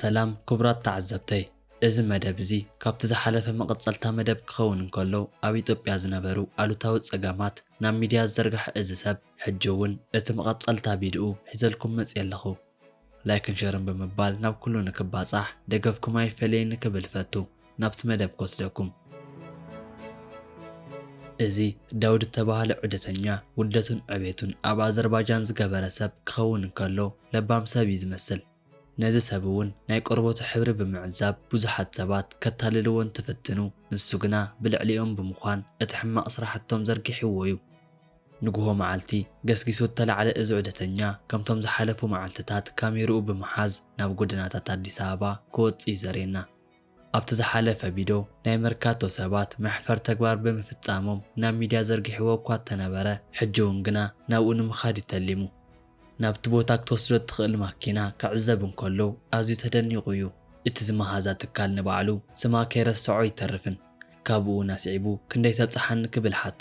ሰላም ክቡራት ተዓዘብተይ እዚ መደብ እዚ ካብቲ ዝሓለፈ መቐጸልታ መደብ ክኸውን እንከሎ ኣብ ኢትዮጵያ ዝነበሩ ኣሉታዊ ጸገማት ናብ ሚድያ ዝዘርግሐ እዚ ሰብ ሕጂ እውን እቲ መቐጸልታ ቪድኡ ሒዘልኩም መጺኤ ኣለኹ። ላይክን ሸርን ብምባል ናብ ኩሉ ንክባጻሕ ደገፍኩም ኣይፈለየኒ ክብል እፈቱ ናብቲ መደብ ክወስደኩም። እዚ ዳውድ እተባህለ ዑደተኛ ውልደቱን ዕቤቱን ኣብ ኣዘርባጃን ዝገበረ ሰብ ክኸውን እንከሎ ለባም ሰብ እዩ ዝመስል። ነዚ ሰብ እውን ናይ ቆርበቱ ሕብሪ ብምዕዛብ ብዙሓት ሰባት ከታልልዎ እንትፍትኑ ንሱ ግና ብልዕሊኦም ብምዃን እቲ ሕማቕ ስራሕቶም ዘርጊሕዎ እዩ። ንግሆ መዓልቲ ገስጊሱ እተላዕለ እዚ ዑደተኛ፣ ከምቶም ዝሓለፉ መዓልትታት ካሜርኡ ብምሓዝ ናብ ጎደናታት ኣዲስ ኣበባ ክወጽእ'ዩ ዘርእየና። ኣብቲ ዝሓለፈ ቪዶ፣ ናይ መርካቶ ሰባት መሕፈር ተግባር ብምፍጻሞም ናብ ሚድያ ዘርጊሕዎ እኳ እተነበረ፣ ሕጂ'ውን ግና ናብኡ ንምኻድ'ዩ ተሊሙ። ናብቲ ቦታ ክትወስዶ እትኽእል ማኪና ክዕዘብ እንከሎ ኣዝዩ ተደኒቑ'ዩ። እቲ ዝመሃዛ ትካል ንባዕሉ ስማ ከይረሰዖ ኣይተርፍን። ካብኡ'ውን ኣስዒቡ ክንደይ ተብጽሓኒ ክብል ሓቶ።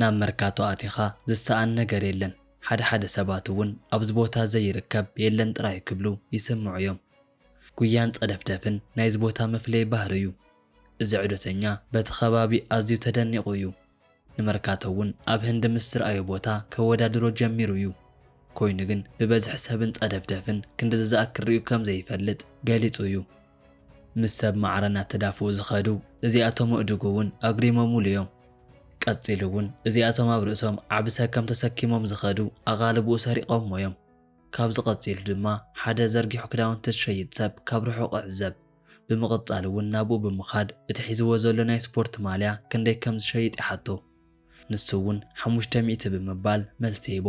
ናብ መርካቶ ኣቲኻ ዝሰኣን ነገር የለን፣ ሓደ ሓደ ሰባት እውን ኣብዚ ቦታ ዘይርከብ የለን ጥራይ ክብሉ ይስምዑ እዮም። ጉያን ጸደፍደፍን ናይዚ ቦታ መፍለዪ ባህሪ እዩ። እዚ ዑደተኛ በቲ ከባቢ ኣዝዩ ተደኒቑ እዩ። ንመርካቶ እውን ኣብ ህንዲ ምስ ዝርኣዮ ቦታ ከወዳድሮ ጀሚሩ እዩ። ኮይኑ ግን ብበዝሒ ሰብን ጸደፍደፍን ክንድዚ ዝኣክል ርእዩ ከም ዘይፈልጥ ገሊጹ እዩ። ምስ ሰብ ማዕረ እናተዳፍኡ ዝኸዱ እዚኣቶም እእዱግ እውን ኣጉዲሞሙሉ እዮም። ቀጺሉ እውን እዚኣቶም ኣብ ርእሶም ዓቢ ሰከም ተሰኪሞም ዝኸዱ ኣቓልቦኡ ሰሪቖሞ እዮም። ካብዚ ቀጺሉ ድማ ሓደ ዘርጊሑ ክዳውንቲ ዝሸይጥ ሰብ ካብ ርሑቕ እዕዘብ። ብምቕጻል እውን ናብኡ ብምኻድ እቲ ሒዝዎ ዘሎ ናይ ስፖርት ማልያ ክንደይ ከም ዝሸይጥ ይሓቶ። ንሱ እውን ሓሙሽተ ሚእቲ ብምባል መልሲ ይህቦ።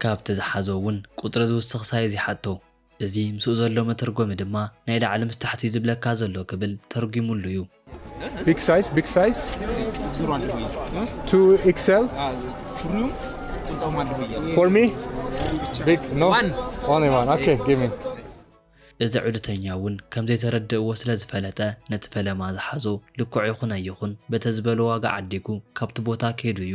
ካብቲ ዝሓዞ እውን ቁጽሪ ዝውስኽ ሳይዝ ይሓቶ። እዚ ምስኡ ዘሎ መተርጎሚ ድማ ናይ ላዕሊ ምስ ታሕቲ'ዩ ዝብለካ ዘሎ ክብል ተርጒሙሉ እዩ። Big size፣ Big size፣ to XL፣ for me፣ big፣ no፣ only one፣ okay፣ give me። እዚ ዑደተኛ እውን ከም ዘይተረድእዎ ስለ ዝፈለጠ ነቲ ፈለማ ዝሓዞ ልክዑ ይኹን ኣይኹን በተ ዝበሎ ዋጋ ዓዲጉ ካብቲ ቦታ ከይዱ እዩ።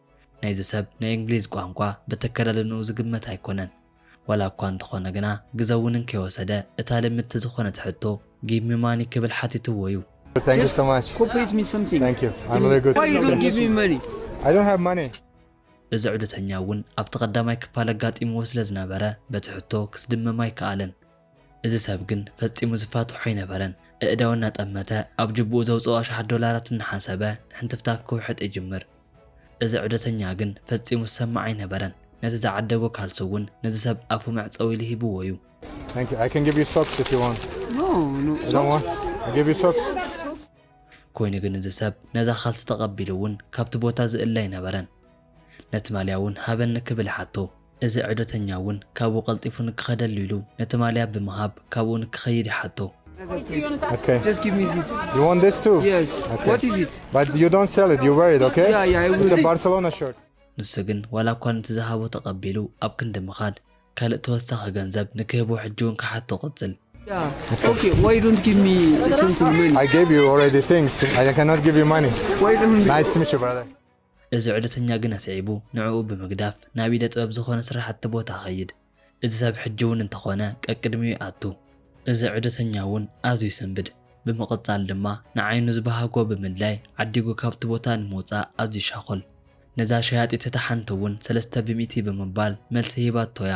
ናይዚ ሰብ ናይ እንግሊዝ ቋንቋ በተከዳድንኡ ዝግመት ኣይኮነን። ዋላ እኳ እንተኾነ ግና ግዘ ውንን ከይወሰደ እታ ልምድቲ ዝኾነት ሕቶ ጊቭ ሚ ማኒ ክብል ሓቲትዎ እዩ። Thank you so much. ኮፕሬት ሚ ሰምቲንግ Thank you. I'm very good. ዋይ ዩ ዶንት ጊቭ ሚ መኒ I don't have money. እዚ ዑደተኛ እውን ኣብቲ ቀዳማይ ክፋል ኣጋጢምዎ ስለዝነበረ በቲ ሕቶ ክስድምም ኣይከኣለን። እዚ ሰብ ግን ፈጺሙ ዝፋትሖ ኣይነበረን። ኣእዳው እናጠመተ ኣብ ጅብኡ ዘውጽኦ ኣሽሓት ዶላራት እናሓሰበ ሕንትፍታፍ ክውሕጥ ይጅምር። እዚ ዑደተኛ ግን ፈጺሙ ዝሰምዕ ኣይነበረን። ነቲ ዝዓደጎ ካልሲ እውን ነዚ ሰብ ኣፉ መዕጸዊ ኢሉ ሂብዎ'ዩ። ኮይኑ ግን እዚ ሰብ ነዛ ካልሲ ተቐቢሉ እውን ካብቲ ቦታ ዝእለ ኣይነበረን። ነቲ ማልያ እውን ሃበኒ ክብል ሓቶ። እዚ ዑደተኛ እውን ካብኡ ቀልጢፉ ንክኸደሉ ኢሉ ነቲ ማልያ ብምሃብ ካብኡ ንክኸይድ ይሓቶ። ንሱ ግን ዋላ እኳ ነቲ ዝሃቦ ተቐቢሉ ኣብ ክንዲ ምኻድ ካልእ ተወሳኺ ገንዘብ ንክህቦ ሕጂ እውን ክሓቶ ቀጽል። እዚ ዑደተኛ ግን ኣስዒቡ ንዕኡ ብምግዳፍ ናብ ኢደ ጥበብ ዝኾነ ስራሕቲ ቦታ ኸይድ። እዚ ሰብ ሕጂ እውን እንተኾነ ቀቅድሚኡ ይኣቱ። እዚ ዑደተኛ እውን ኣዝዩ ይሰንብድ። ብምቕጻል ድማ ንዓይኑ ዝበሃጎ ብምድላይ ዓዲጉ ካብቲ ቦታ ንምውጻእ ኣዝዩ ይሻኾል። ነዛ ሸያጢት እታ ሓንቲ እውን ሰለስተ ብሚእቲ ብምባል መልሲ ሂባቶ እያ።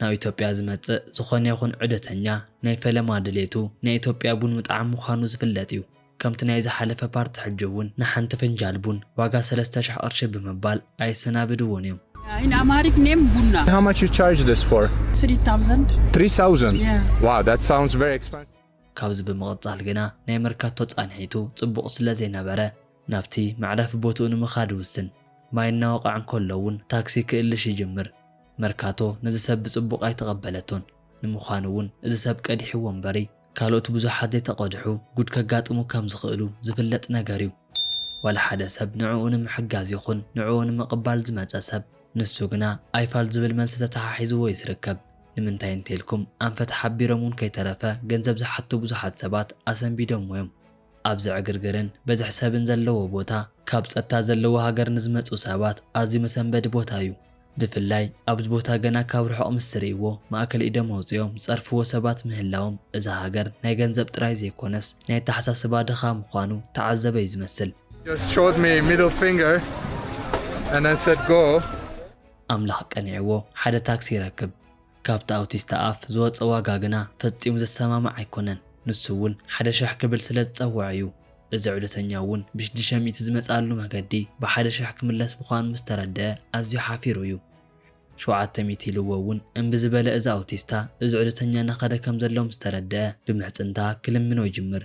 ናብ ኢትዮጵያ ዝመጽእ ዝኾነ ይኹን ዑደተኛ ናይ ፈለማ ድሌቱ ናይ ኢትዮጵያ ቡን ምጥዓም ምዃኑ ዝፍለጥ እዩ። ከምቲ ናይ ዝሓለፈ ፓርቲ ሕጂ እውን ንሓንቲ ፍንጃል ቡን ዋጋ ሰለስተ ሽሕ ቅርሺ ብምባል ኣየሰናብድዎን እዮም። In Amharic name, Bunna. How much you charge this for? 3,000. 3,000? Yeah. Wow, that sounds very expensive. ካብዚ ብምቕጻል ግና ናይ መርካቶ ጻንሒቱ ጽቡቕ ስለዘይነበረ፣ ናብቲ መዕረፊ ቦትኡ ንምኻድ ይውስን። ማይ እናወቕዐ እንከሎ እውን ታክሲ ክእልሽ ይጅምር። መርካቶ ነዚ ሰብ ብጽቡቕ ኣይተቐበለቶን። ንምዃኑ እውን እዚ ሰብ ቀዲሕዎ እምበሪ ካልኦት ብዙሓት ዘይተቐድሑ ጉድ ከጋጥሙ ከም ዝኽእሉ ዝፍለጥ ነገር እዩ። ዋላ ሓደ ሰብ ንዕኡ ንምሕጋዝ ይኹን ንዕኡ ንምቕባል ዝመጸ ሰብ ንሱ ግና ኣይፋል ዝብል መልሲ ተተሓሒዝዎ እዩ ዝርከብ። ንምንታይ እንተኢልኩም ኣንፈት ሓቢሮም እውን ከይተረፈ ገንዘብ ዝሓቱ ብዙሓት ሰባት ኣሰንቢዶምዎ እዮም። ኣብዚ ዕግርግርን ብዝሒ ሰብን ዘለዎ ቦታ፣ ካብ ጸጥታ ዘለዎ ሃገር ንዝመጹ ሰባት ኣዝዩ መሰንበዲ ቦታ እዩ። ብፍላይ ኣብዚ ቦታ ገና ካብ ርሑቕ ምስ ዝርእይዎ ማእከል ኢዶም ኣውጺኦም ዝጸርፍዎ ሰባት ምህላዎም እዛ ሃገር ናይ ገንዘብ ጥራይ ዘይኮነስ ናይ ኣተሓሳስባ ድኻ ምዃኑ ተዓዘበ እዩ ዝመስል። just showed me middle finger and then said go። ኣምላኽ ቀኒዕዎ ሓደ ታክሲ ይረክብ። ካብቲ ኣውቲስታ ኣፍ ዝወጸ ዋጋ ግና ፈጺሙ ዝሰማማዕ ኣይኮነን፣ ንሱ እውን ሓደ ሽሕ ክብል ስለ ዝጸወዐ እዩ። እዚ ዑደተኛ እውን ብሽድሽተ ሚእቲ ዝመጽኣሉ መገዲ ብሓደ ሽሕ ክምለስ ምዃኑ ምስ ተረደኣ ኣዝዩ ሓፊሩ እዩ። ሸውዓተ ሚእቲ ኢልዎ እውን እምቢ ዝበለ እዚ ኣውቲስታ፣ እዚ ዑደተኛ እናኸደ ከም ዘሎ ምስ ተረደኣ ብምሕጽንታ ክልምኖ ይጅምር።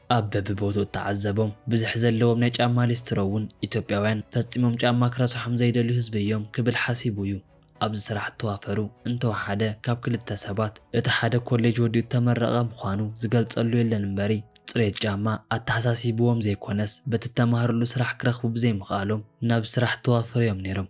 ኣብ በብቦትኡ እተዓዘቦም ብዝሒ ዘለዎም ናይ ጫማ ሊስትሮ እውን ኢትዮጵያውያን ፈጺሞም ጫማ ክረስሖም ዘይደልዩ ህዝቢ እዮም ክብል ሓሲቡ እዩ ኣብዚ ስራሕ እተዋፈሩ እንተወሓደ ካብ ክልተ ሰባት እቲ ሓደ ኮሌጅ ወዲኡ እተመረቐ ምዃኑ ዝገልጸሉ የለን እምበሪ ጽሬት ጫማ ኣተሓሳሲብዎም ዘይኮነስ በቲ እተማህርሉ ስራሕ ክረኽቡ ብዘይምኽኣሎም ናብ ስራሕ እተዋፈሩ እዮም ነይሮም።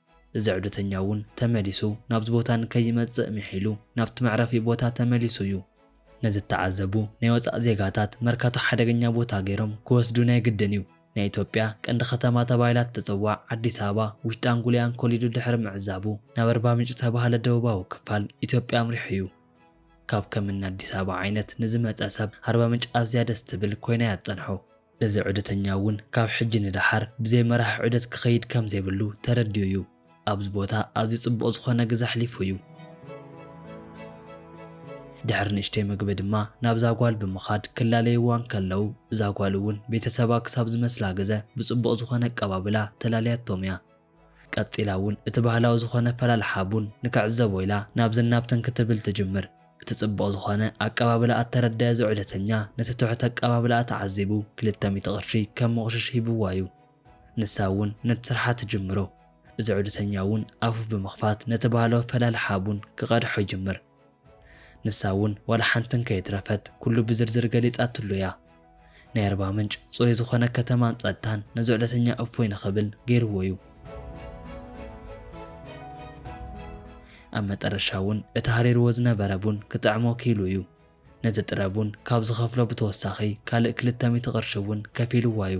እዚ ዑደተኛ እውን ተመሊሱ ናብዚ ቦታ ንከይመጽእ ምሒሉ ናብቲ መዕረፊ ቦታ ተመሊሱ እዩ። ነዚ እተዓዘቡ ናይ ወጻእ ዜጋታት መርካቶ ሓደገኛ ቦታ ገይሮም ክወስዱ ናይ ግድን እዩ። ናይ ኢትዮጵያ ቀንዲ ከተማ ተባሂላ እትጽዋዕ ኣዲስ ኣበባ ውሽጣን ጉልያን ኮሊዱ ድሕሪ ምዕዛቡ ናብ ኣርባምንጭ ዝተባህለ ደቡባዊ ክፋል ኢትዮጵያ ኣምሪሑ እዩ። ካብ ከም እኒ ኣዲስ ኣበባ ዓይነት ንዝመጸ ሰብ ኣርባምንጭ ኣዝያ ደስ ትብል ኮይና እያ ትጸንሖ። እዚ ዑደተኛ እውን ካብ ሕጂ ንደሓር ብዘይ መራሒ ዑደት ክኸይድ ከም ዘይብሉ ተረዲኡ እዩ። ኣብዚ ቦታ ኣዝዩ ጽቡቕ ዝኾነ ግዘ ኣሕሊፉ እዩ። ድሕሪ ንእሽተይ መግቢ ድማ ናብዛ ጓል ብምኻድ ክላለይዋ እንከለዉ እዛ ጓል እውን ቤተሰባ ክሳብ ዝመስላ ግዘ ብጽቡቕ ዝኾነ ኣቀባብላ ተላልያቶም እያ። ቀጺላ እውን እቲ ባህላዊ ዝኾነ ኣፈላልሓ ቡን ንክዕዘቦ ኢላ ናብዝን ናብትን ክትብል ትጅምር። እቲ ጽቡቕ ዝኾነ ኣቀባብላኣ እተረደኣ እዚ ዑደተኛ ነቲ ትሑት ኣቀባብላኣ ተዓዚቡ ክልተ ሚእቲ ቅርሺ ከም ሞቕሽሽ ሂብዋ እዩ። ንሳ እውን ነቲ ስርሓ ትጅምሮ። እዚ ዑደተኛ እውን ኣፉ ብምኽፋት ነቲ ባህላዊ ኣፈላልሓ ቡን ክቐድሖ ይጅምር። ንሳ እውን ዋላ ሓንቲ እንከይትረፈት ኩሉ ብዝርዝር ገሊጻትሉ እያ። ናይ ኣርባ ምንጭ ጽሩይ ዝኾነ ከተማን ጸጥታን ነዚ ዑደተኛ እፎይ ንኽብል ገይርዎ እዩ። ኣብ መጠረሻ እውን እቲ ሃሪርዎ ዝነበረ ቡን ክጥዕሞ ክኢሉ እዩ። ነቲ ጥረ ቡን ካብ ዝኸፍሎ ብተወሳኺ ካልእ ክልተ ሚእቲ ቅርሺ እውን ከፊልዋ እዩ።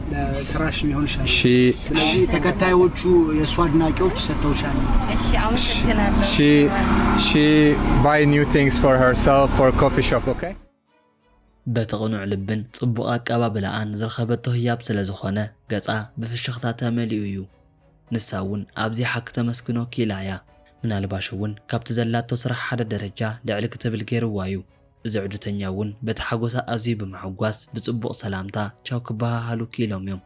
ለስራሽ ሊሆን ይችላል። እሺ ስለዚህ ተከታዮቹ የእሱ አድናቂዎች ሰጥተውሻል። እሺ አመሰግናለሁ። ሺ ሺ ባይ ኒው ቲንግስ ፎር ሄርሰልፍ ፎር ኮፊ ሾፕ ኦኬ በቲ ቅኑዕ ልብን ጽቡቕ ኣቀባብላኣን ዝረኸበቶ ህያብ ስለ ዝኾነ ገጻ ብፍሽኽታ ተመሊኡ እዩ። ንሳ እውን ኣብዚ ሓቂ ተመስግኖ ክኢላ እያ። ምናልባሽ እውን ካብቲ ዘላቶ ስራሕ ሓደ ደረጃ ልዕል ክትብል ገይርዋ እዩ። እዚ ዑደተኛ እውን በቲ ሓጎሳ ኣዝዩ ብምሕጓስ ብጽቡቕ ሰላምታ ቻው ክበሃሃሉ ክኢሎም እዮም።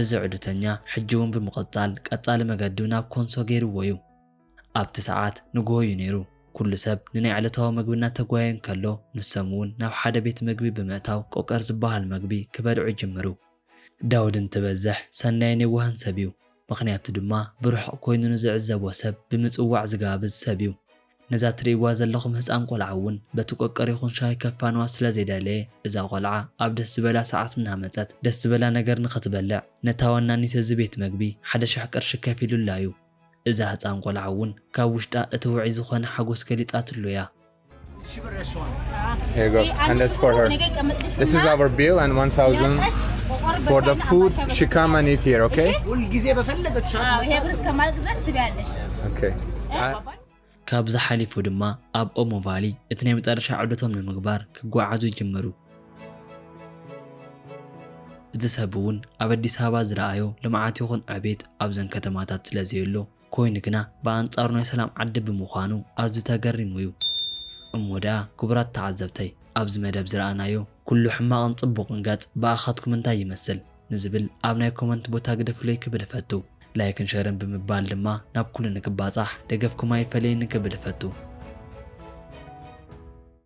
እዚ ዑደተኛ ሕጂ እውን ብምቕጻል ቀጻሊ መገዱ ናብ ኮንሶ ገይርዎ እዩ። ኣብቲ ሰዓት ንግሆ እዩ ነይሩ። ኩሉ ሰብ ንናይ ዕለታዊ መግቢ እናተጓየ እንከሎ ንሶም እውን ናብ ሓደ ቤት መግቢ ብምእታው ቆቀር ዝበሃል መግቢ ክበልዑ ጅምሩ። ዳውድ እንትበዝሕ ሰናይን የዋህን ሰብ እዩ፣ ምኽንያቱ ድማ ብርሑቕ ኮይኑ ንዝዕዘቦ ሰብ ብምጽዋዕ ዝጋብዝ ሰብ እዩ። ነዛ ትርእይዋ ዘለኹም ህጻን ቆልዓ እውን በቲ ቆቀር ይኹን ሻሂ ከፋንዋ ስለ ዘይደለየ እዛ ቆልዓ ኣብ ደስ ዝበላ ሰዓት እናመጸት ደስ ዝበላ ነገር ንኽትበልዕ ነታ ወናኒት እዚ ቤት መግቢ ሓደ ሽሕ ቅርሺ ከፊሉላ እዩ። እዛ ህጻን ቆልዓ እውን ካብ ውሽጣ እቲ ውዑይ ዝኾነ ሓጎስ ገሊጻትሉ እያ። Here you go. And that's for her. This is our bill and 1000 for the food. She come and eat here, okay? ሁልጊዜ በፈለገች ሰዓት አዎ፣ ይሄ ብር እስከማልቅ ድረስ ትበያለሽ። Okay. I- ካብዚ ሓሊፉ ድማ ኣብ ኦሞ ቫሊ እቲ ናይ መጨረሻ ዑደቶም ንምግባር ክጓዓዙ ይጅምሩ እዚ ሰብ እውን ኣብ ኣዲስ ኣበባ ዝረኣዮ ልምዓት ይኹን ዕቤት ኣብዘን ከተማታት ስለ ዘየሎ ኮይኑ ግና ብኣንጻሩ ናይ ሰላም ዓዲ ብምዃኑ ኣዝዩ ተገሪሙ'ዩ። እሞ ደኣ ክቡራት ተዓዘብተይ ኣብዚ መደብ ዝረኣናዮ ኩሉ ሕማቕን ጽቡቕን ገጽ ብኣኻትኩም እንታይ ይመስል ንዝብል ኣብ ናይ ኮመንት ቦታ ግደፉለይ ክብል እፈቱ። ላይክን ሸርን ብምባል ድማ ናብ ኩሉ ንክባጻሕ ደገፍኩም ኣይፈለየኒ ክብል እፈቱ።